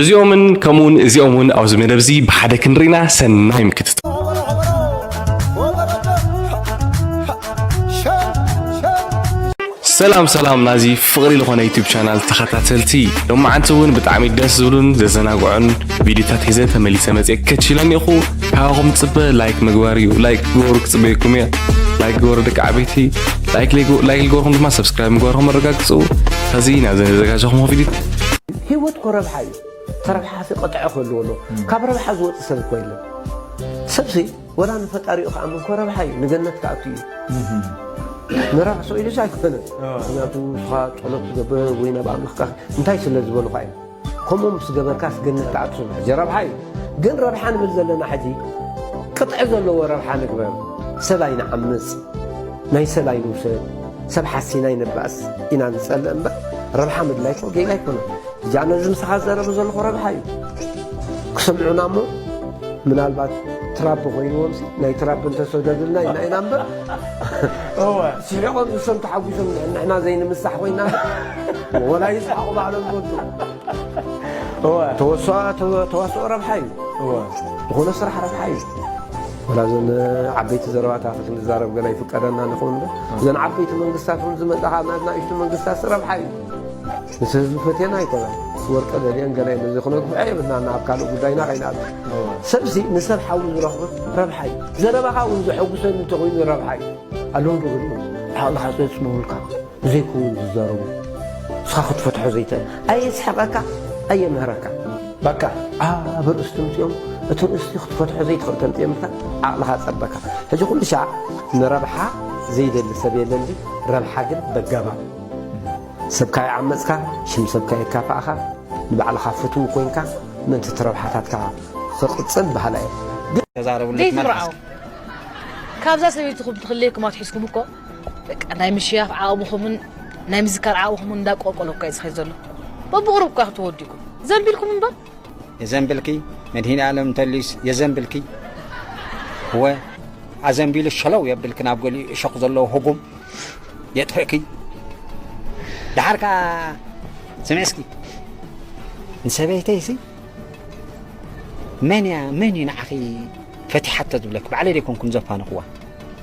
እዚኦምን ከምኡውን እዚኦም እውን ኣብዚ መደብ እዚ ብሓደ ክንርኢና ሰናይ ምክትታል ሰላም ሰላም ናዚ ፍቕሪ ዝኾነ ዩቲብ ቻናል ተኸታተልቲ ሎማዓንቲ እውን ብጣዕሚ ደስ ዝብሉን ዘዘናግዑን ቪዲዮታት ሒዘ ተመሊሰ መፅእ ከችለን ኢኹ ካባኹም ፅበ ላይክ ምግባር እዩ ላይክ ግበሩ ክፅበየኩም እየ ላይክ ግበሩ ደቂ ዓበይቲ ላይክ ልገርኹም ድማ ሰብስክራይብ ምግባርኩም ኣረጋግፁ ከዚ ናብዚ ዘዘጋጀኹም ቪዲዮ ሂወት እኮ ረብሓ እዩ ተረብሓፊ ቅጥዒ ክህልዎ ኣለዎ ካብ ረብሓ ዝወፅ ሰብ እኮ የለን ሰብሲ ወላ ንፈጣሪኡ ክኣምን እኮ ረብሓ እዩ ንገነት ክኣቱ እዩ ንረብሕሶ ኢሉስ ኣይኮነን ምክንያቱ ንስኻ ጸሎት ትገብር ወይ ናብ ኣምላኽካ እንታይ ስለ ዝበሉኻ እዩ ከምኡ ምስ ገበርካስ ገነት ትኣቱ ሕጂ ረብሓ እዩ ግን ረብሓ ንብል ዘለና ሕጂ ቅጥዒ ዘለዎ ረብሓ ንግበር ሰብ ኣይንዓምፅ ናይ ሰብ ኣይንውሰድ ሰብ ሓሲና ኣይንባእስ ኢና ንጸልእ እምበር ረብሓ ምድላይኮ ጌጋ ኣይኮነን። ብዛዕባ ነዚ ምሳኻ ዝዘረበ ዘለኹ ረብሓ እዩ ክሰምዑና እሞ ምናልባት ትራብ ኮይንዎም ናይ ትራብ እንተሰደዱልና ኢና ኢና እምበር ስሒቆም ንሶም ተሓጒሶም ንሕና ዘይንምሳሕ ኮይና ወላ ይስሓቑ ባዕሎም ዝወዱ ተዋስኦ ረብሓ እዩ ዝኾነ ስራሕ ረብሓ እዩ ወላ እዘን ዓበይቲ ዘረባታት ክንዛረብ ገለ ይፍቀደና ንኸውን ዶ እዘን ዓበይቲ መንግስታት እውን ዝመፃ ካብ ናት ናእሽቱ መንግስታት ረብሓ እዩ ምስ ህዝቢ ፈቴና ኣይኮነን ወርቀ ደልየን ገለ ኢለ እዚ ክነግብዐ የብልናና ኣብ ካልእ ጉዳይና ከይንኣብ ሰብሲ ንሰብ ሓዊ ዝረኽቦ ረብሓ እዩ ዘረባኻ እውን ዘሐጉሰኒ እንተኮይኑ ረብሓ እዩ ኣለዉ ዶ ዓቕልኻ ዘፅንቡልካ ዘይከውን ዝዛረቡ ንስኻ ክትፈትሖ ዘይትእል ኣየስሕቐካ ኣየምህረካ በቃ ኣብ ርእሲ ተምፅኦም እቲ ርእሲ ክትፈትሖ ዘይትኽእል ተምፅኦምልካ ዓቕልኻ ፀበካ ሕጂ ኩሉ ሻዕ ንረብሓ ዘይደሊ ሰብ የለን ድዩ ረብሓ ግን በጋባብ ሰብካ ይዓመፅካ ሽም ሰብካ የካፋእኻ ንባዕልኻ ፍትው ኮይንካ ምእንቲ እቲ ረብሓታትካ ክቕፅል በሃላይ እየ ዘይትርዓው ካብዛ ሰበይትኹም ትኽለየኩም ኣትሒዝኩም እኮ በቃ ናይ ምሽያፍ ዓቕምኹምን ናይ ምዝካር ዓቕምኹምን እንዳቆልቆሎ እኳ እዩ ዝኸይድ ዘሎ በብቕሩብ እኳ ክትወዲኩም ዘንቢልኩም እምበር የዘንብልኪ መድሂን ኣለም እንተልዩስ የዘንብልኪ እወ ኣዘንቢሉ ሸለው የብልኪ ናብ ገሊኡ እሾኽ ዘለዎ ህጉም የጥፍእኪ ድሓር ከዓ ስምዕ እስኪ ንሰበይተይሲ መን እያ መን እዩ ንዓኺ ፈቲሓቶ ዝብለኪ ባዕለይ ደይኮንኩም ዘፋንኹዋ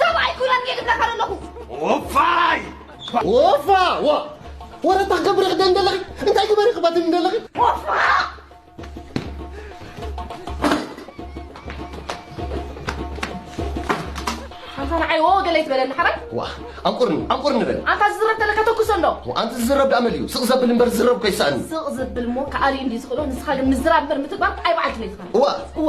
ሰብኣይ ኩናት ከይግብረካ ኣለኹ ወፋይ ወፋ ዋ ወረታ ክገብሪ ክደን ደለኺ እንታይ ግበሪ ክበትን ደለኺ ወፋ ኣንታ ንዓይ ወ ገለ ይትበለኒ ሓባይ ዋ ኣብ ቁርኒ ኣብ ቁርኒ በል ኣንታ ዝዝረብ ተለካ ተኩሶ ኣሎ ኣንቲ ዝዝረብ ዳኣ መሊኡ ስቕ ዘብል እምበር ዝዝረብ ኮይሰኣኒ ስቕ ዝብል እሞ ከኣልዩ እንዲ ዝኽእሎ ንስኻ ግን ምዝራብ እምበር ምትግባር ኣይ በዓልቲ ቤትኻ እዋ እወ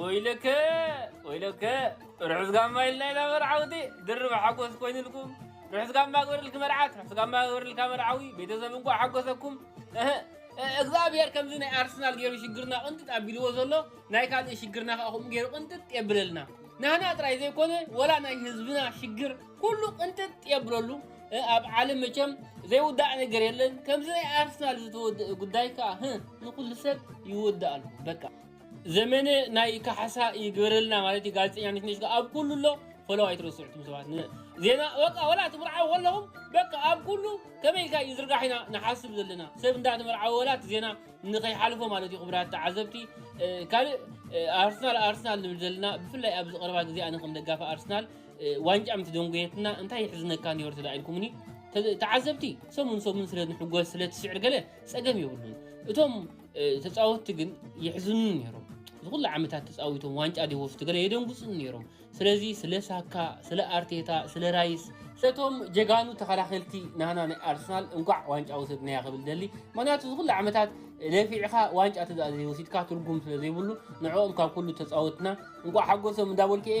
ወይለከ ወይለከ ርሑስ ጋማ ኢልና ኢና መርዓውቲ ድርብ ሓጎስ ኮይኑልኩም ርሑስ ጋማ ግበረልኪ መርዓት ርሑስ ጋማ ግበረልካ መርዓዊ ቤተሰብ እንኳ ሓጎሰኩም እግዚኣብሔር ከምዚ ናይ ኣርሰናል ገይሩ ሽግርና ቅንጥጥ ኣቢልዎ ዘሎ ናይ ካልእ ሽግርና ከዓ ከምኡ ገይሩ ቅንጥጥ የብለልና ናህና ጥራይ ዘይኮነ ወላ ናይ ህዝብና ሽግር ኩሉ ቅንጥጥ የብለሉ ኣብ ዓለም መቸም ዘይውዳእ ነገር የለን ከምዚ ናይ ኣርሰናል ዝተወድእ ጉዳይ ከዓ ህ ንኩሉ ሰብ ይወዳእሉ በቃ ዘመነ ናይ ካሕሳ ይግበረልና ማለት እዩ ጋዜጠኛ ነትነሽ ከዓ ኣብ ኩሉ ኣሎ ፈለው ኣይትረስዑ ትም ሰባት ን- ዜና በቃ ወላ ትምርዓው ከለኹም በቃ ኣብ ኩሉ ከመይ ኢልካ እዩ ዝርጋሕ ኢና ንሓስብ ዘለና ሰብ እንዳተመርዓወ ወላ እቲ ዜና ንከይሓልፎ ማለት እዩ ክብራት ተዓዘብቲ እ፣ ካልእ እ፣ ኣርሰናል ኣርሰናል ንብል ዘለና ብፍላይ ኣብዚ ቀረባ ግዜ ኣነ ከም ደጋፊ ኣርሰናል ዋንጫ ምስ ደንጎየትና እንታይ ይሕዝነካ ኔርት ዳ ኢልኩምኒ ተዓዘብቲ ሰሙን ሰሙን ስለ ንሕጎስ ስለ ትስዕር ገለ ጸገም የብሉን እቶም ተጻወትቲ ግን ይሕዝኑ ነይሮም ዝኩሉ ዓመታት ተጻዊቶም ዋንጫ ዲወስቱ ገለ የደንጉጹን ነይሮም ስለዚ ስለ ሳካ ስለ ኣርቴታ ስለ ራይስ ስለቶም ጀጋኑ ተኸላኸልቲ ናና ናይ ኣርሰናል እንኳዕ ዋንጫ ወሰድናያ ክብል ደሊ ምክንያቱ ዝኩሉ ዓመታት ለፊዕኻ ዋንጫ ተዛእ ዘይወሲድካ ትርጉም ስለ ዘይብሉ ንዕኦም ካብ ኩሉ ተጻወትና እንኳዕ ሓጎሶም እንዳበልኩ እየ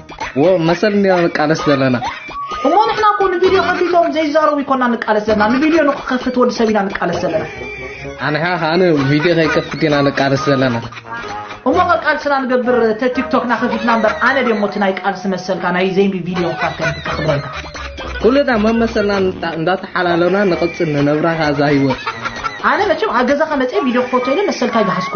ዎ መሰል እንዲና ንቃለስ ዘለና እሞ ንሕና እኮ ንቪድዮ ከፊቶም ዘይዛረቡ ይኮና ንቃለስ ዘለና ንቪድዮ ንክከፍት ወዲ ሰብ ኢና ንቃለስ ዘለና ኣንሓ ከዓ ንቪድዮ ከይከፍት ኢና ንቃለስ ዘለና እሞ ቃልስና ንገብር ተቲክቶክና ከፊትና እምበር ኣነ ደ ሞቲ ናይ ቃልሲ መሰልካ ናይ ዘይሚ ቪድዮ ክፋት ከክብረልካ ኩልና መመሰልና እንዳተሓላለና ንቕፅል ንነብራ ካዛ ህይወት ኣነ መቸም ኣብ ገዛኻ መፅአ ቪድዮ ክፈቶ ኢለ መሰልካ ይግሃስኮ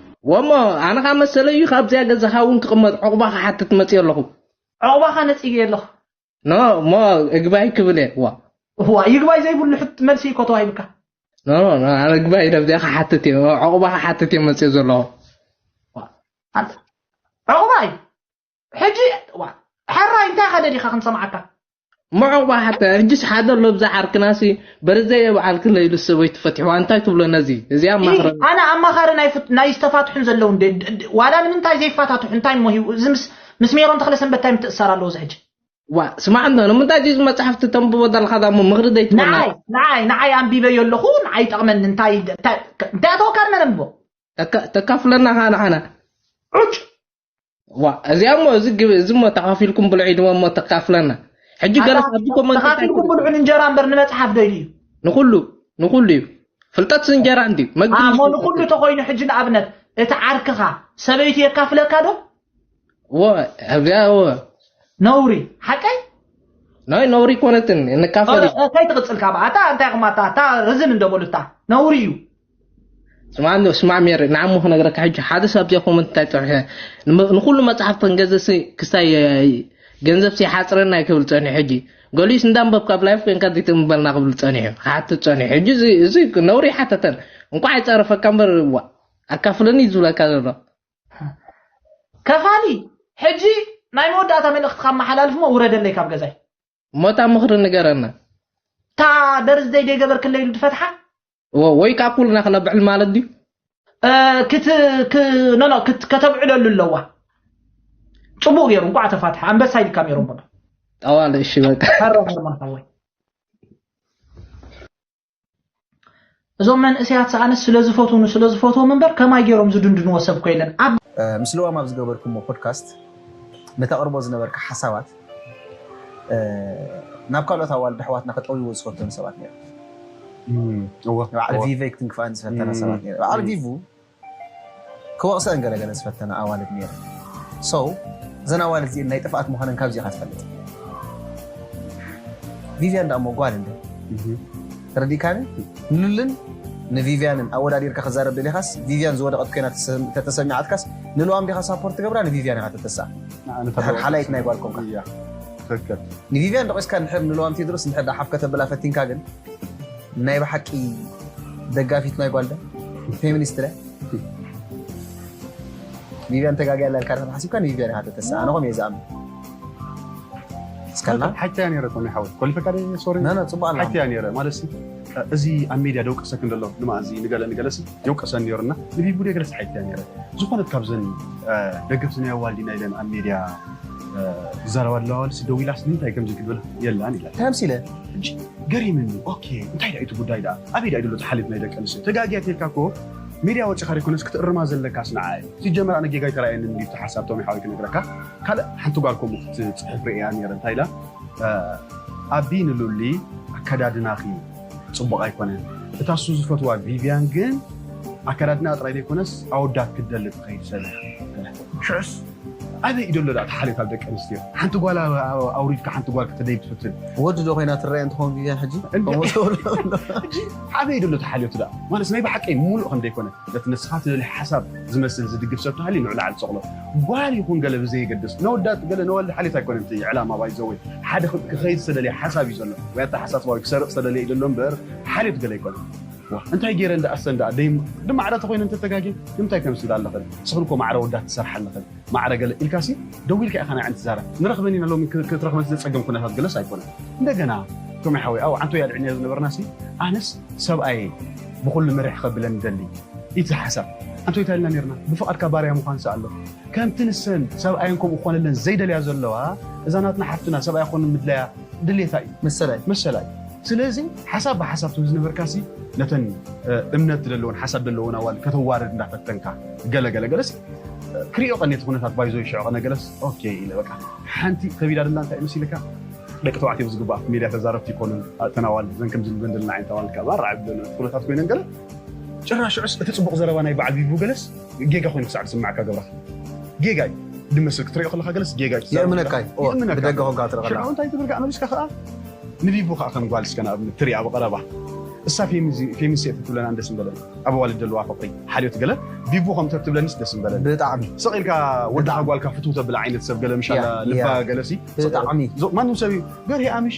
ወሞ ኣነ ካብ መሰለይ እዩ ካብዚኣ ገዛኻ እውን ክቕመጥ ዕቑባ ክሓትት መፅዮ ኣለኹ ዑቕባኻ ነጺገ ኣለኹ ኖ እሞ እግባይ ክብል እየ ዋ እዋ ይግባይ ዘይብሉ ሕት መልሲ እዩ እኮ ተዋሂብካ ኖ ኖ ኖ፣ ኣነ እግባይ ነብዚኣ ክሓትት እየ ዕቑባ ክሓትት እየ መፅዮ ዘለኹ ዋ፣ ኣንተ ዑቕባ እዩ ሕጂ እዋን ሐራይ እንታይ ከ ደሊካ ክንሰምዓካ ምዑቕባ ሓታ ሕጂስ ሓደ ኣሎ ብዛ ዓርክናሲ በርዘየ በዓል ክለ ኢሉ ሰበይቱ ፈትሕዋ እንታይ ትብሎ ነዚ እዚ ኣማኽረ ኢሂ፣ ኣነ ኣማኻሪ ናይ ፍት- ናይ ዝተፋትሑን ዘለዉ እንደ ድ- ድ- ዋላ ንምንታይ ዘይፋታትሑ እንታይ እሞ ሂቡ እዚ ምስ ምስ ሜሮን ተክለሰንበት እንታይ ምትእሳር ኣለዎ እዚ ሕጂ ዋ ስማዕ እንዶ ንምንታይ እዚ መፅሓፍቲ ተንብቦ ዘለካ ዳሞ ምኽሪ ዘይትበና ንዓይ ንዓይ ንዓይ ኣንቢበዮ ኣለኹ ንዓይ ይጠቕመኒ እንታይ እንታይ እንታይ ኣተወካ ንመን ኣንብቦ እካ ተካፍለና ካ ንዓና ዑጭ ዋ እዚኣ እሞ እዚ ግብ እዚ እሞ ተኻፊልኩም ብልዑ ድማ እሞ ተካፍለና ሕጂ ገለ ካብዚ ኮመንት እንታይ ተኻፊልኩም ትብል? ብልዑ እንጀራ እምበር ንመጽሓፍ ዶ ኢሉ እዩ ንኹሉ ንኹሉ እዩ ፍልጠት እንጀራ እንድዩ መግቢ እሞ ንሱ ንኹሉ ፍልጠት ተኮይኑ ሕጂ ንኣብነት እቲ ዓርክኻ ሰበይቱ የካፍለካ ዶ እዎ እዚኣ እዎ ነውሪ ሓቀይ ናይ ነውሪ ኮነትን ንካፈል እዩ ከይትቕጽል ካብ ኣታ እንታይ ኹም ኣታ ኣታ ርዝን እንደበሉ እታ ነውሪ እዩ ስማዕ ኣሎ ስማዕ ሜሪ ንዓሞ ክነግረካ ሕጂ ሓደ ሰብ ኣብዚኣ ኮመንት እንታይ ፀኒሐ ንመ- ንኩሉ መፅሓፍ ከንገዝሲ ክስታይ ገንዘብ ሲሓፅረና እዩ ክብል ፀኒሑ ሕጂ ገሊኡስ እንዳንበብካ ኣብ ላይፍ ኮንካ ዘይትንበልና ክብል ፀኒሑ ክሓትት ፀኒሑ ሕጂ እዚ እዚ ነውሪ ይሓተተን እንኳዕ ይፀረፈካ እምበር ዋ ኣካፍለኒ እዩ ዝብለካ ዘሎ ከፋሊ ሕጂ ናይ መወዳእታ መልእኽትኻ ኣመሓላልፍ እሞ ውረደለይ ካብ ገዛይ እሞ እታ ምኽሪ ንገረና እታ ደርዚ ዘይደገበርክለይ ኢሉ ድፈትሓ ወይ ከዓ ኩልና ክነብዕል ማለት ድዩ ኖኖ ከተብዕለሉ ኣለዋ ፅቡቅ ገይሩ እንኳዕ ተፋትሐ ኣንበሳ ኢልካ ሜሮን በሎ ጠዋል እሺ በቃ ሃሮን ሃርሞን ሓወይ እዞም መንእሰያት ሰኣነስ ስለ ዝፈትውኑ ስለ ዝፈትዎም እምበር ከማይ ገይሮም ዝድንድንዎ ሰብ እኮ የለን ኣብ ምስ ልዋም ኣብ ዝገበርኩሞ ፖድካስት ንተቕርቦ ዝነበርካ ሓሳባት ናብ ካልኦት ኣዋልድ ኣሕዋትና ከጠውይዎ ዝፈተኑ ሰባት ነይሮም። እወ፣ ባዕል እወ። ቪቨይ ክትንክፋን ዝፈተና እም፣ ሰባት ነይረን። ባዕል እም። ቪቭ ክወቅሰእን ገለ ገለ ዝፈተና ኣዋልድ ነይረን so እዘን ኣዋልድ እዚኤን ናይ ጥፍኣት ምዃነን ካብዚ ኢኻ ትፈልጥ ቪቭያን ደኣ እሞ ጓል እንደ ተረዲእካኒ ንሉልን ንቪቭያንን ኣወዳዲርካ ክዛረብ ደሊኻስ ቪቭያን ዝወደቐት ኮይና ተተሰሚዓትካስ ንልዋም ዲኻ ሳፖርት ትገብራ ንቪቭያን ኢኻ ተተስኣ ድሕር ሓላይት ናይ ጓል ኮንካ ትክክል ንቪቭያን ደቂስካ ንድሕር ንልዋም ቴድሮስ ንድሕር ደኣ ሓፍ ከተብላ ፈቲንካ ግን ናይ ብሓቂ ደጋፊት ናይ ጓል ዶ ፌሚኒስት ዶ ቪቪያን ተጋጊያ ኣላ ኢልካ ሓሲብካ ንቪቪያን ኢኻ ተተስኣ ኣነ ከምኡ እየ ዝኣምን እስካልና ሓቂ እያ ነይረ ኮነ ሓወይ ኮሊፈካ ደ ሶሪ ነ ፅቡቅ ኣላ ሓቂ እያ ነይረ ማለት እዚ ኣብ ሜድያ ደውቀሰክ እንደሎ ንማእዚ ንገለ ንገለሲ የውቀሰን ነይሩና ንቪቡ ደ ገለሲ ሓቂ እያ ነይረ ዝኾነት ካብዘን ደገፍቲ ናይ ኣዋልዲና ኢለን ኣብ ሜድያ ዝዛረባ ኣለዋ ዋልሲ ደው ኢላስ ንምንታይ ከምዚ ክብል የላን ኢላ ተምሲለ ሕጂ ገሪምኒ ኦኬ እንታይ ድኣዩ እቲ ጉዳይ ድኣ ኣበይ ድኣዩ ዘሎ እቲ ሓልዮት ናይ ደቂ ኣንስትዮ ተጋግያ ተይልካ እኮ ሜድያ ወጺኻ ደይኮነስ ክትእርማ ዘለካስ ንዓ እዩ ሲጀመር ኣነ ጌጋ ኣይተራኣየንን እንድዩ እቲ ሓሳብ ቶሚ ሓወይ ክነግረካ ካልእ ሓንቲ ጓል ከምኡ ክትጽሕፍ ርእየያ ነይረ እንታይ ኢላ ኣቢ ንሉሊ ኣከዳድናኺ ጽቡቕ ኣይኮነን እታ እሱ ዝፈትዋ ቪቭያን ግን ኣከዳድናኣ ጥራይ ዘይኮነስ ኣወዳት ክትደሊ ትኸይድ ሰብ እያ ሽዑስ ኣበይ ኢዩ ደሎ እቲ ሓልዮት ኣብ ደቂ ኣንስትዮ ሓንቲ ጓል ኣውሪድካ ሓንቲ ጓል ክትደይብ ትፍትን ወዲ ዶ ኮይና ትረኣየን ትኸውን ግዜ ሕጂ ከምኡ ትብሎ ሕጂ ኣበይ ኢዩ ደሎ እቲ ሓልዮት ደኣ ማለትስ ናይ ብሓቂ ሙሉእ ከም ዘይኮነ ነቲ ንስኻ ትደልዮ ሓሳብ ዝመስል ዝድግፍ ሰብ ተሃልዩ ንዑ ላዕሊ ጸቕሎ ጓል ይኹን ገለ ብዘየገድስ ነወዳት ገለ ነዋልድ ሓልዮት ኣይኮነን እቲ ዕላማ ባይ ዘ ወይ ሓደ ክኸይድ ዝተደልየ ሓሳብ ኢዩ ዘሎ ወይ ኣተሓሳስባ ወይ ክሰርቕ ዝተደልየ ኢዩ ደሎ እምበር ሓልዮት ገለ ኣይኮነን። ዋእ እንታይ ገይረን ደኣ እሰን ደኣ ደይ ማዕረ ተኾይነን ተተጋግየን ንምንታይ ከምዚ ትብል ኣለኽን እስኽን እኮ ማዕረ ወዳት ትሰርሓ ኣለኽን ማዕረ ገለ ኢልካሲ ደዊልካ ኢኻ ንዐን ትዛረብ ንረኽበን ኢና ሎሚ ክትረኽበን ዘጸገም ኩነታት ገለስ ኣይኮነን እንደገና ቶሚ ሓወይ ኣብ ዓንቶ ያድዕንያ ዝነበርናሲ ኣነስ ሰብኣየይ ብኹሉ ምርሕ ከብለን ይደሊ ኢት ዝሓሳብ ኣንቶይ እንታይ ኢልና ነርና ብፍቓድካ ባርያ ምዃንሲ ኣሎ ከምቲ ንሰን ሰብኣየን ከምኡ ክኾነለን ዘይደልያ ዘለዋ እዛ ናትና ሓፍትና ሰብኣያ ክኾነን ምድላያ ድሌታ እዩ መሰላይ መሰላ እዩ ስለዚ ሓሳብ ብሓሳብ ተዝነበርካ ሲ ነተን እምነት ዘለወን ሓሳብ ዘለወን ኣዋል ከተዋርድ እንዳፈተንካ ገለ ገለ ገለስ ክሪኦ ቀኔቲ ኩነታት ባይዞ ይሽዑ ቀነ ገለስ ኦኬ ኢለ በቃ ሓንቲ ከቢዳ ደላ እንታይ መሲልካ ደቂ ተባዕትዮ ብዝግባእ ኣብቲ ሜድያ ተዛረብቲ ይኮኑን እተን ኣዋልድ እዘን ከምዚ ንብለን ዘለና ዓይነት ኣዋልድ ካብ ኣራዕብ ኩነታት ኮይነን ገለ ጭራሽዑስ እቲ ፅቡቕ ዘረባ ናይ በዓል ቪቡ ገለስ ጌጋ ኮይኑ ክሳዕ ዝስመዓካ እገብረካ ጌጋ እዩ ድመስል ክትሪኦ ከለካ ገለስ ጌጋ እዩ የእምነካ እዩ ብደገ ኮንካ ክትርኢ ከለካ ሽዑ እንታይ ትብል ከኣ መሊስካ ከኣ ንቢቡ ከኣ ከም ጓል እስከ ንኣብነት ትሪኣ ብቐረባ እሳ ፌሚንስ እየ ትብለን ኣንደስ ምበለን ኣብ ኣዋልድ ዘለዋ ፍቅሪ ሓልዮት ገለ ቢቡ ከም ተትብለኒስ ደስ ምበለኒ ብጣዕሚ ስቕ ኢልካ ወድኻ ጓልካ ፍትው ተብል ዓይነት ሰብ ገለ ምሻላ ልባ ገለሲ ብጣዕሚ ማንም ሰብ እዩ ገርሂ ኣምሽ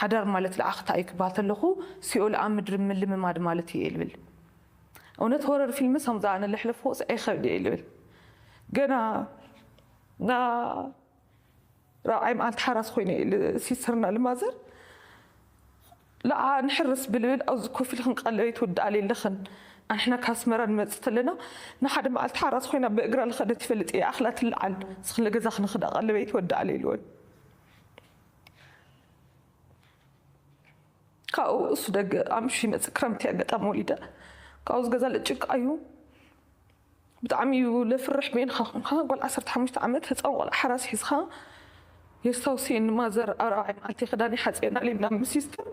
ሓዳር ማለት ልኣኽታ እዩ ክበሃል ተለኹ ሲኦል ኣብ ምድሪ ምልምማድ ማለት እዩ እየ ልብል እውነት ሆረር ፊልምስ ከምዚ ኣነ ለሕለፍኩስ ኣይኸብድ እየ ልብል ገና ና ራብዓይ መዓልቲ ሓራስ ኮይነ እዩ ሲስተርና ልማዘር ልዓ ንሕርስ ብልብል ኣብዚ ኮፍ ኢልክን ቀለበይ ትውድኣለይ ኣለኽን ኣንሕና ካብ ኣስመራ ንመፅእ ተለና ንሓደ መዓልቲ ሓራስ ኮይና ብእግራ ልኸደት ይፈልጥ እየ ኣኽላ ትለዓል ስኽለ ገዛ ክንኽዳ ቀለበይ ትወድኣለይ ልወን ካብኡ እሱ ደገ ኣምሹ ይመፅእ ክረምቲ ኣጋጣሚ ወሊደ ካብኡ ዝገዛ ልጭቅ ኣዩ ብጣዕሚ እዩ ለፍርሕ ቤንካ ኮንካ ጓል ዓሰርተ ሓሙሽተ ዓመት ህፃን ቆልዓ ሓራስ ሒዝካ የስታውስየኒ ማዘር ኣብ ራብዓይ መዓልቲ ክዳን ይሓፅየና ሌልና ምስ ሲስተር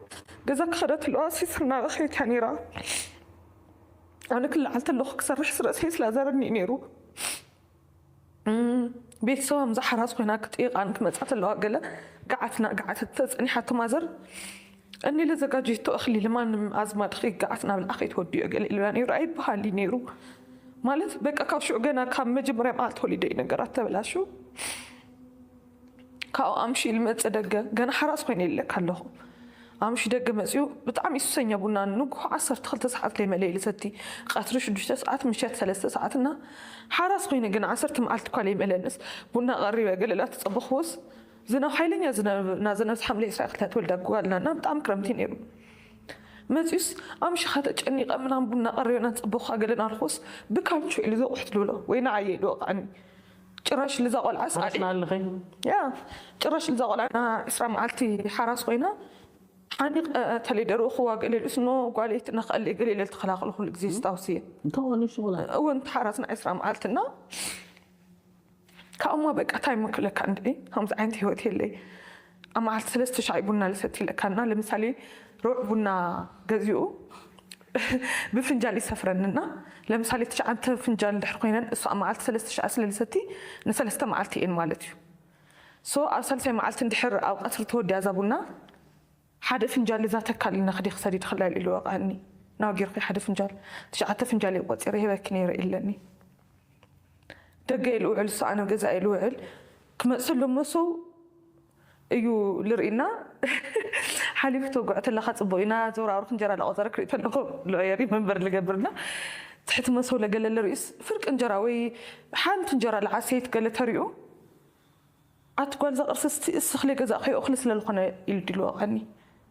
ገዛ ክኸደ ትለዋ ሲስተር እናበኸየት እያ ነይራ ኣነ ክለዓል ተለኹ ክሰርሕ ስረሰይ ስላዘረኒ እዩ ነይሩ እም ቤተሰባ ምዛ ሓራስ ኮይና ክጥይቃን ክመጻ ተለዋ ገለ ጋዓት ናጋዓተት ተጸኒሓቶ ማዘር እኒ ለዘጋጀቶ እክሊ ልማንም ኣዝማድኪ ጋዓት ናብልዓ ከይትወድዮ ገለ ኢሉላ ነይሩ ኣይብሃል እዩ ነይሩ ማለት በቃ ካብ ሽዑ ገና ካብ መጀመርያ ማዓልቲ ወሊደ እዩ ነገራት ተበላሹ። ካብኡ ኣምሽዩ ልመጽእ ደገ ገና ሓራስ ኮይነ ኢለካ ኣለኹ። ኣምሽዩ ደገ መጺኡ ብጣዕሚ ሱሰኛ ቡና ንጉሆ ዓሰርተ ክልተ ሰዓት ከይመለኢ ልሰቲ፣ ቀትሪ ሽዱሽተ ሰዓት፣ ምሸት ሰለስተ ሰዓት እና ሓራስ ኮይነ ግን ዓሰርተ መዓልቲ እኳ ለይመለንስ ቡና ቀሪበ ገለ ላተጸበኹዎስ ዝናብ ሓይለኛ ዝናብ ናዘነብስ ሓምለ ዕስራ ክልተ ተወልዳ ጓልና እና ብጣዕሚ ክረምቲ እዩ ነይሩ መጺኡስ ኣምሽኻ ተጨኒቐ ምናም ቡና ቀሪበ ናተጸበኹኻ ገለ ናልኩዎስ ብካልቾ ኢሉ ዘቑሕት ልብሎ ወይ ንዓየ ኢሉ ወቕዓኒ ጭራሽ ልዛ ቆልዓስ ሓራስ ኣደ ንኣልኺ እያ ጭራሽ ልዛ ቆልዓ ንኣ ዕስራ መዓልቲ ሓራስ ኮይና ሓኒቅ ተለይ ደርኡ ክዋግእ ልል እስኖ ጓለይ ትነኸኣለይ ገለ ኢለ ልተኸላኸሎ ኩሉ ግዜ ስታውስ እየ እንታይ ኮን ንሱ ቆልዓ እወ ንቲ ሓራስ ንዕስራ መዓልቲ እና ካብኡማ በቃ ታይ ምክለካ እንድዒ ከምዚ ዓይነት ሂወት የለይ ኣብ መዓልቲ ሰለስተ ሻዕ እዩ ቡና ልሰቲ ለካ እና ለምሳሌ ሩዕ ቡና ገዚኡ ብፍንጃል ይሰፍረኒ እና ለምሳሌ ትሽዓንተ ፍንጃል ድሕር ኮይነን እሱ ኣብ መዓልቲ ሰለስተ ሻዕ ስለ ልሰቲ ንሰለስተ መዓልቲ እየን ማለት እዩ so ኣብ ሳልሳይ መዓልቲ እንድሕር ኣብ ቀትሪ ተወዲኣ እዛ ቡና ሓደ ፍንጃል እዛ ተካል ነክዲ ክሰዲ ድክላል ኢሉ ወቀኣኒ ናው ጌርኪ ሓደ ፍንጃል ትሽዓተ ፍንጃል እየ ቆፂረ ሂበኪ ነይረ ኢለኒ ደገይ ልውዕል እሱ ኣነ ገዛይ ልውዕል ክመፅሉ መሱ እዩ ልርኢና ሓሊፉ ተጉዕ ተለካ ፅቡቅ ኢና ዘውራውርክ እንጀራ ለቆፀረ ክርኢ ተለኩ ልዕየሪ መንበር ልገብርና ትሕቲ መሰው ለገለ ልርኢስ ፍርቂ እንጀራ ወይ ሓንቲ እንጀራ ልዓሰይት ገለ ተሪኡ ኣቲ ጓል እዛ ቅርሲ እስቲ እስኺ ለይገዛእኽዮ እኽሊ ስለልኾነ ኢሉ ዲልወቀኒ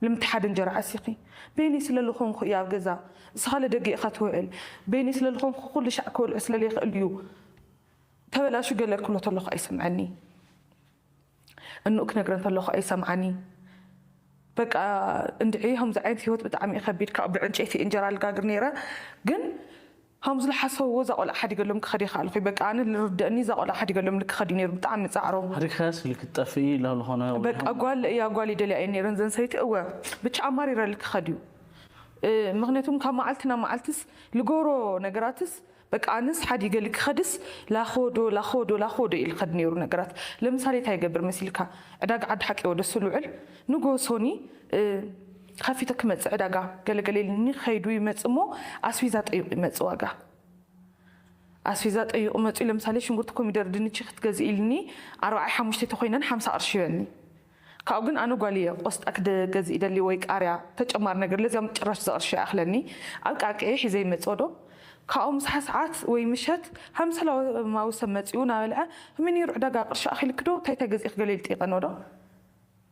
ልምቲ ሓደ እንጀራ ዓሲኺ በይነይ ስለልኾንኹ እየ ኣብ ገዛ እስኻለ ደገ ኢኻ ትውዕል በይነይ ስለልኾንኹ ኩሉ ሻዕ ክበልዖ ስለልይኽእል እዩ ተበላሹ ገለ ክብሎ ተለኹ ኣይሰምዐኒ እንኡ ክነግረን ተለኹ ኣይሰምዓኒ በቃ እንድዒ ሀምዚ ዓይነት ህይወት ብጣዕሚ እዩ ከቢድ ካብኡ ብዕንጨይቲ እንጀራ ልጋግር ነይረ ግን ሃምዙ ልሓሰውዎ እዛ ቆልዓ ሓዲገሎም ክኸድ የኻኣልኹይ በቃ ኣነ ልርደእኒ እዛ ቆልዓ ሓዲገሎምል ክኸድ እዩ ነይሩ ብጣዕሚ ጻዕሮም። ሓዲግካያስ ኢሉ ክትጠፍኢ ኢላ ልኾነ ወይ በቃ ጓል እያ ጓል ይደልያ እየን ነይረን ዘን ሰበይቲ እወ ብቻ ኣማሪረል ክኸድ እዩ ምኽንያቱም ካብ ማዓልቲ ናብ ማዓልትስ ልገብሮ ነገራትስ በቃ ኣነስ ሓዲገል ክኸድስ ላኾዶ ላኾዶ ላኾዶ እየ ልኸድ ነይሩ ነገራት ለምሳሌ ታይ ይገብር መሲልካ ዕዳጋ ዓዲ ሓቂ ወደሱ ልውዕል ንግሆ ሶኒ ኸፊተ ክመፅእ ዕዳጋ ገለ ገለ ኢልኒ ኸይዱ ይመፅእ እሞ ኣስፊዛ ጠይቁ ይመፅእ ዋጋ ኣስፊዛ ጠይቁ መፅኡ ለምሳሌ ሽንጉርቲ ኮሚደር ድንቺ ክትገዝእ ኢልኒ ኣርባዓይ ሓሙሽተይ ተኾይነን ሓምሳ ቅርሺ ይበልኒ ካብኡ ግን ኣነ ጓል እየ ቆስጣ ክገዝእ ይደሊ ወይ ቃርያ ተጨማሪ ነገር ለዚኦም ጭራሽ ዘቅርሺ ኣይኣኽለኒ ኣብ ቃንቀየ ሒዘ ይመፅኦ ዶ ካብኡ ምሳሓ ሰዓት ወይ ምሸት ሃምሰላማዊ ሰብ መፅኡ ናበልዐ ከመይ ነይሩ ዕዳጋ ቅርሺ ኣኺልኪ ዶ እንታይ እንታይ ገዚእኺ ገለ ኢሉ ጠይቀኖ ዶ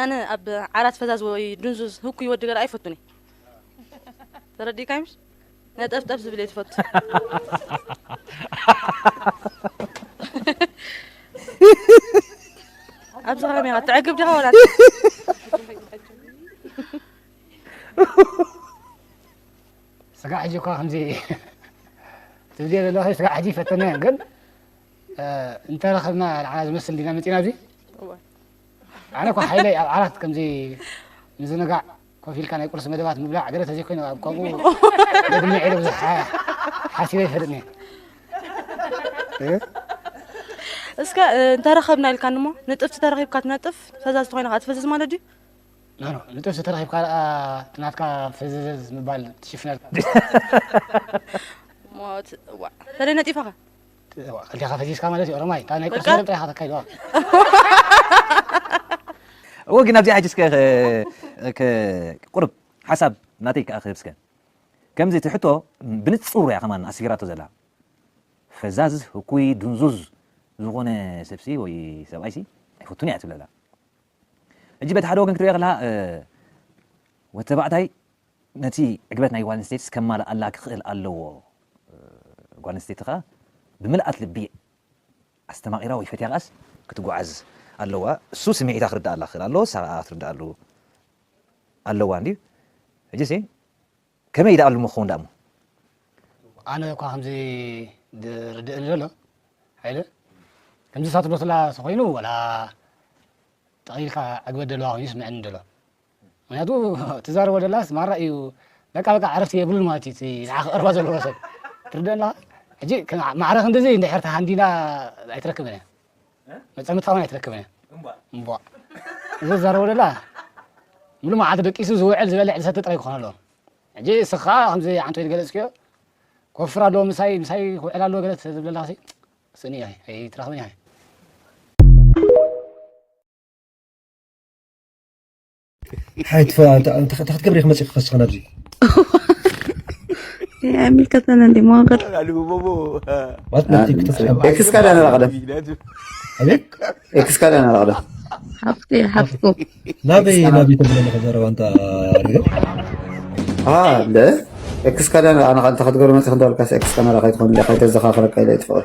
ኣነ ኣብ ዓራት ፈዛዝ ወይ ድንዙዝ ህኩይ ወዲ ገራ ኣይፈቱን እየ ተረዲእካይ ምሽ ነጠፍጠፍ ዝብል እየ ትፈቱ ኣብዚ ከመይ ኢኻ ትዕግብ ዲኻ ወላ ስጋ ሕጂ እኳ ከምዚ ትብልዮ ዘለኺ ስጋ ሕጂ ፈተናዮ ግን እንተረኸብና ንዓና ዝመስል ዲና መፂና እዚ ኣነ እኳ ሓይለይ ኣብ ዓራት ከምዚ ምዝንጋዕ ኮፍ ኢልካ ናይ ቁርሲ መደባት ምብላዕ ገለ ተዘይኮይኑ ኣብ ከምኡ ደግመ ዒለ ብዙሕ ሓሲበ ይፈልጥ እየ እስከ እንተረኸብና ኢልካ ንሞ ንጥፍቲ ተረኺብካ ትነጥፍ ፈዛዝ ተኮይና ከዓ ትፈዝዝ ማለት ድዩ ናኖ ንጥፍቲ ተረኺብካ ደኣ ትናትካ ፈዘዘዝ ምባል ትሽፍነልካ ሞት ዋ ተለይ ነጢፋኻ ከልቴኻ ፈዚዝካ ማለት እዩ ኦሮማይ እታ ናይ ቁርሲ መደብ ጥራይ ኢኻ ተካይድዋ እወ ግን ኣብዚኣ ሕጂ እስከ ቁርብ ሓሳብ ናተይ ከኣ ክህብ እስከ ከምዚ እቲ ሕቶ ብንጹር እያ ከማን ኣስፊራቶ ዘላ ፈዛዝ ህኩይ ድንዙዝ ዝኾነ ሰብሲ ወይ ሰብኣይሲ ኣይፈቱን እያ ትብለላ ሕጂ በቲ ሓደ ወገን ክትሪኦ ከለካ ወተባዕታይ ነቲ ዕግበት ናይ ጓለንስተይትስ ከማልኣላ ክኽእል ኣለዎ። ጓለንስተይቲ ከኣ ብምልኣት ልቢ ኣስተማቒራ ወይ ፈትያ ከኣስ ክትጉዓዝ ኣለዋ። እሱ ስምዒታ ክርድኣላ ክኽእል ኣለዎ፣ እሳ ከኣ ክትርድኣሉ ኣለዋ እንድዩ። ሕጂሲ ከመይ ደኣሉ እሞ ክኸውን ደኣሞ? ኣነ እኳ ከምዚ ዝርድእኒ ዘሎ ሃይለ ከምዚ ሳትሎትላ ተኾይኑ ወላ ጠቒልካ ዕግበት ደለዋ ኮይኑ ይስመዐኒ ደሎ። ምክንያቱ ትዛረቦ ደላስ ማራ እዩ በቃ በቃ ዕረፍቲ የብሉን ማለት እዩ እቲ ንዓኻ ክቐርባ ዘለዎ ሰብ ትርደና ሕጂ ማዕረ ክንድዚ እንድሕር ተሃንዲና ኣይትረክብን እያ መፀምትካ እውን ኣይትረክብን እያ እምቧ እዚ ዝዛረቦ ደላ ሙሉ መዓልቲ ደቂሱ ዝውዕል ዝበልዕ ዝሰተ ጥራይ ክኾን ኣለዎ ሕጂ እስኻ ከምዚ ዓንቶ ዝገለፅክዮ ክወፍር ኣለዎ ምሳይ ምሳይ ክውዕል ኣለዎ ገለት ዝብለላ ሲ ስእኒ እያ ኣይትረኽብን እያ ሓይ ትፈ እንታይ ክትገብሪ ኢኺ መፂኺ ክፈስኽን ኣብዚ ኣይምልከተን እንዲ መዋገር ማለት ነቲ ክትፍሕም ኤክስ ካዳን ኣላቕደም ኣቤት ኤክስ ካዳን ኣላቕደም ሓፍቲ ሓፍቱ ናበይ ናበይ ተብለ ኣለኸ ዘረባ እንታ ርግብ ኣለ ኤክስ ካዳን ኣነ እንተ ክትገብሪ መፂኺ እንዳበልካስ ኤክስ ካሜራ ከይትኾን ኢለ ከይተዘኻኽረካ ኢለ ይትፍቕር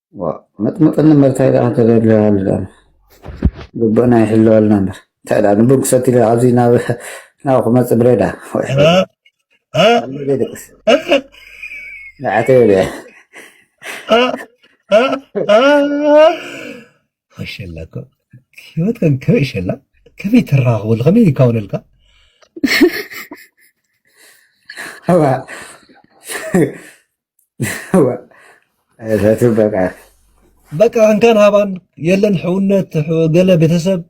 መጥመጥኒ እምበር እንታይ ደኣ ተደልያሉ ደኣ ግቡእና ይሕለወልና እምበር እንታይ ደኣ ንቡን ክሰቲ ኢለ ኣብዚ ናብ ናብ ክመፅእ ብሬ ደኣ ዘይደቅስ ንዓተ ይብል እየ ሸላ እኮ ህይወት ከም ከበይ ሸላ ከመይ ተራኽበሉ ከመይ ይካውነልካ በቃ እንካን ሃባን የለን ሕውነት ገለ ቤተሰብ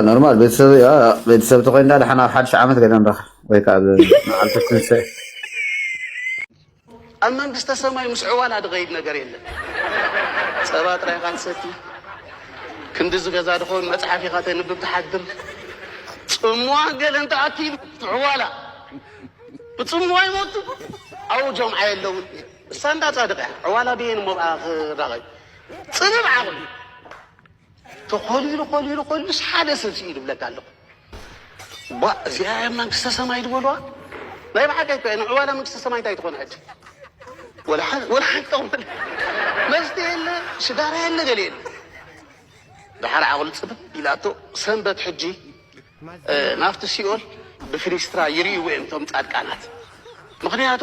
ኖርማል ቤተሰብ ቤተሰብ ተኮይንዳ ድሓን ኣብ ሓድሽ ዓመት ገለ ንረክ ወይ ከዓ መዓልቲ ትንስኤ ኣብ መንግስተ ሰማይ ምስ ዕዋላ ድኸይድ ነገር የለን ፀባ ጥራይ ኢኻ ትሰቲ ክንዲ ዝገዛ ድኾን መፅሓፍ ኢኻ ተንብብ ትሓድር ፅሟ ገለ እንተኣኪሉ ዕዋላ ብጽምዋ ይሞቱ ኣብኡ ጀምዓ የለውን እሳ እንዳ ጻድቅ እያ ዕዋላ ብየን እሞ ብኣ ክራቀዩ ጽብብ ዓቅሉ ተኮሊሉ ኮሊሉ ኮሊሉ ሓደ ሰብ ስኢሉ ብለካ ኣለኩ ቧእ እዚኣ እያ መንግስተ ሰማይ ዝበልዋ ናይ ብሓቂ እኮ እያ ንዕዋላ መንግስተ ሰማይ እንታይ ትኾን ሕጂ ወላ ሓንቲ ወላ ሓንቲ ጠቕሚ መስተ የለ ሽጋራ የለ ገለ የለ ድሓር ዓቕሉ ፅብብ ኢላቶ ሰንበት ሕጂ ናብቲ ሲኦል ብፍኒስትራ ይርእይዎ እዮም እቶም ጻድቃናት ምኽንያቱ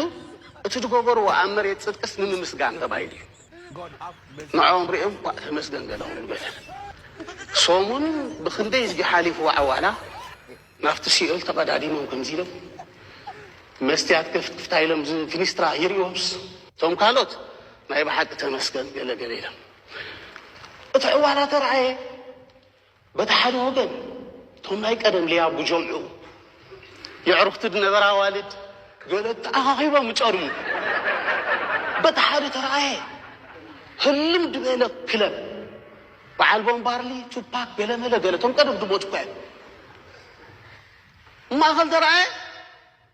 እቲ ዝገበርዎ ኣብ መሬት ጽድቅስ ንምምስጋን ተባሂሉ እዩ ንዖም ርእዮም ኳእ ተመስገን ገለኹም ንበተን ሶሙን ብኽንደይ ህዝቢ ሓሊፍዎ ዓዋላ ናብቲ ሲኦል ተቐዳዲሞም ከምዚ ኢሎም መስትያት ከፍትፍታ ኢሎም ፍኒስትራ ይርእዮምስ እቶም ካልኦት ናይ ብሓቂ ተመስገን ገለ ገለ ኢሎም እቲ ዕዋላ ተርኣየ በቲ ሓደ ወገን እቶም ናይ ቀደም ልያ ጉጀምዑ የዕሩኽቲ ድነበራ ኣዋልድ ገለ ተኣኻኺቦም እጨርሙ። በቲ ሓደ ተረኣየ ህልም ድበለ ክለብ በዓል ቦምባርሊ፣ ቱፓክ፣ ገለመለ ገለ እቶም ቀደም ድሞቱ እኳ እዮም። ማእኸል ተረኣየ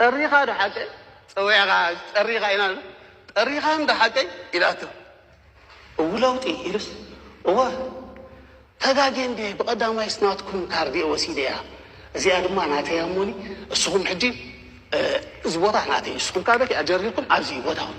ጠሪኻ ዶ ሓቀይ ፀዊዕኻ ጠሪኻ ኢና ጠሪኻ እንዶ ሓቀይ ኢላቶ እው ለውጢ ኢሉስ እወ ተጋጌ እንድየ ብቐዳማይስ ናትኩም ካርድ እየ ወሲደያ እዚኣ ድማ ናተይ ኣሞኒ እስኹም ሕጂ እዚ ቦታ ናተይ እስኹም ካበይ ኣጀሪርኩም ኣብዚ ቦታኹም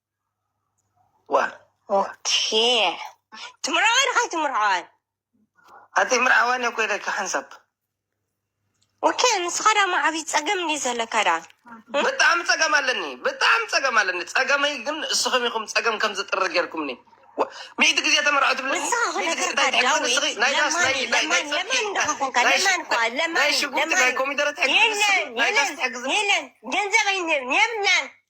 ትምርዓዋን ኸይ ትምርዓዋን ኣቲ ምርዓዋን እኮ ኢለኪ ሓንሳብ ወከ ንስኻ ዳ ማዓቢ ፀገም እንዲ ዘለካ ዳ ብጣዕሚ ፀገም ኣለኒ ብጣዕሚ ፀገም ኣለኒ ፀገመይ ግን እስኹም ኢኹም ፀገም ከም ዝጥሪ ጌርኩምኒ ሚእቲ ግዜ ተመርዖ ትብለ ንስኻ ኹ ነገርካ ዳዊት ለማን ለማን እንዳኸኾንካ ለማን እኳ ለማን ናይ ሽጉርቲ ናይ ለማን ኮሚደረ ትሕግዝ የለን ናይ ጋስ የለን ትሕግዝ የለን ገንዘብ ኣይንህብ የብልናን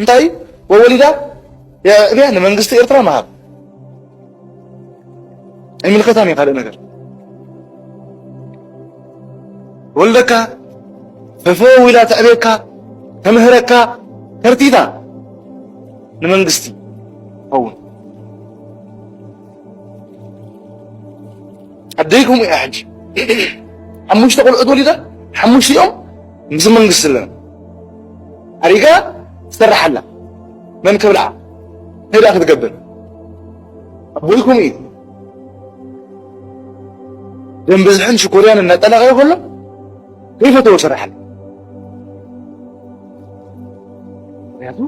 እንታይ እዩ ወወሊዳ የዕብያ ንመንግስቲ ኤርትራ መሃብ ኣይምልከታን እዩ ካልእ ነገር ወልደካ ፈፈወ ዊላ ተዕብየካ ተምህረካ ተርቲታ ንመንግስቲ ኸውን ኣደይኩም እያ ሕጂ ሓሙሽተ ቆልዑት ወሊዳ ሓሙሽቲኦም ምስ መንግስቲ ኣለና ኣሪጋ ትሰርሕ ኣላ መን ክብልዓ ንዳ ክትገብር ኣቦይኩም እዩ ደም ብዝሕን ሽኮርያን እናጠላቀየ ከሎ ከይፈተዎ ስራሕ ኣለ ምክንያቱ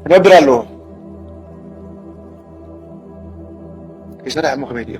ክነብር ኣለዎ ከይሰራሕ ሞ ከመይ ድዮ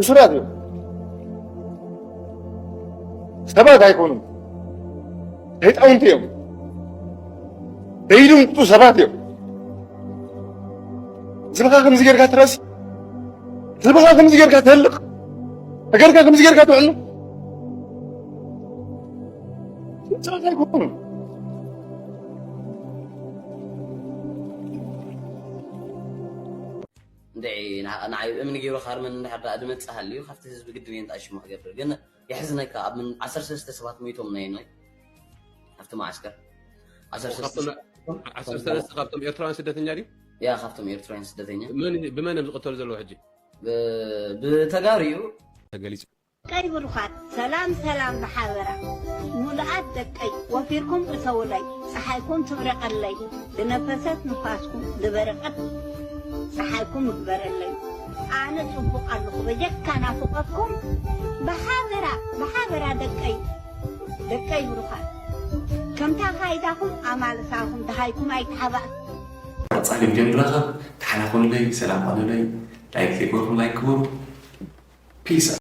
እሱራት እዮም። ሰባት ኣይኮኑም፣ ህፃውንቲ እዮም። ደይድምጡ ሰባት እዮም። ዝብኻ ከምዚ ጌርካ ትረስ ህዝብኻ ከምዚ ጌርካ ትህልቕ እገርካ ከምዚ ጌርካ ትውዕሉ ጨዋታ ኣይኮኑ ንዓይ እምኒ ገይሩ ካርመን እንድሕር ድኣ ድመፅእ ሃልዩ ካብቲ ህዝቢ ግድን እየ እንዳ ሽሙ ክገብር ግን የሕዝነካ ኣብ ምን ዓሰርተ ሰለስተ ሰባት ሞይቶም ነየናይ ኣብቲ መዓስከር ዓሰርተ ሰለስተ ካብቶም ኤርትራውያን ስደተኛ ድዩ ያ ካብቶም ኤርትራውያን ስደተኛ ብመን እዮም ዝቕተሉ ዘለዎ ሕጂ ብተጋሩ እዩ ተገሊጹ ቀይ ብሩኻት ሰላም ሰላም ብሓበራ ሙሉኣት ደቀይ ወፊርኩም እተውለይ ፀሓይኩም ትብረቀለይ ዝነፈሰት ንፋስኩም ዝበረቀት ፀሓይኩም እግበረለይ ኣነ ጽቡቅ ኣለኹ በጀካ ናፉቀኩም ብሓበራ ብሓበራ ደቀይ ደቀይ ብሩኻት ከምታ ካይዳኹም ኣማልሳኹም ደሃይኩም ኣይተሓባእኩ። ቀጻሊ ቪድዮ ንራኸብ ተሓናኾሉለይ ሰላም ኾኑለይ ላይክ ዘይገበርኩም ላይክ ግበሩ ፒስ።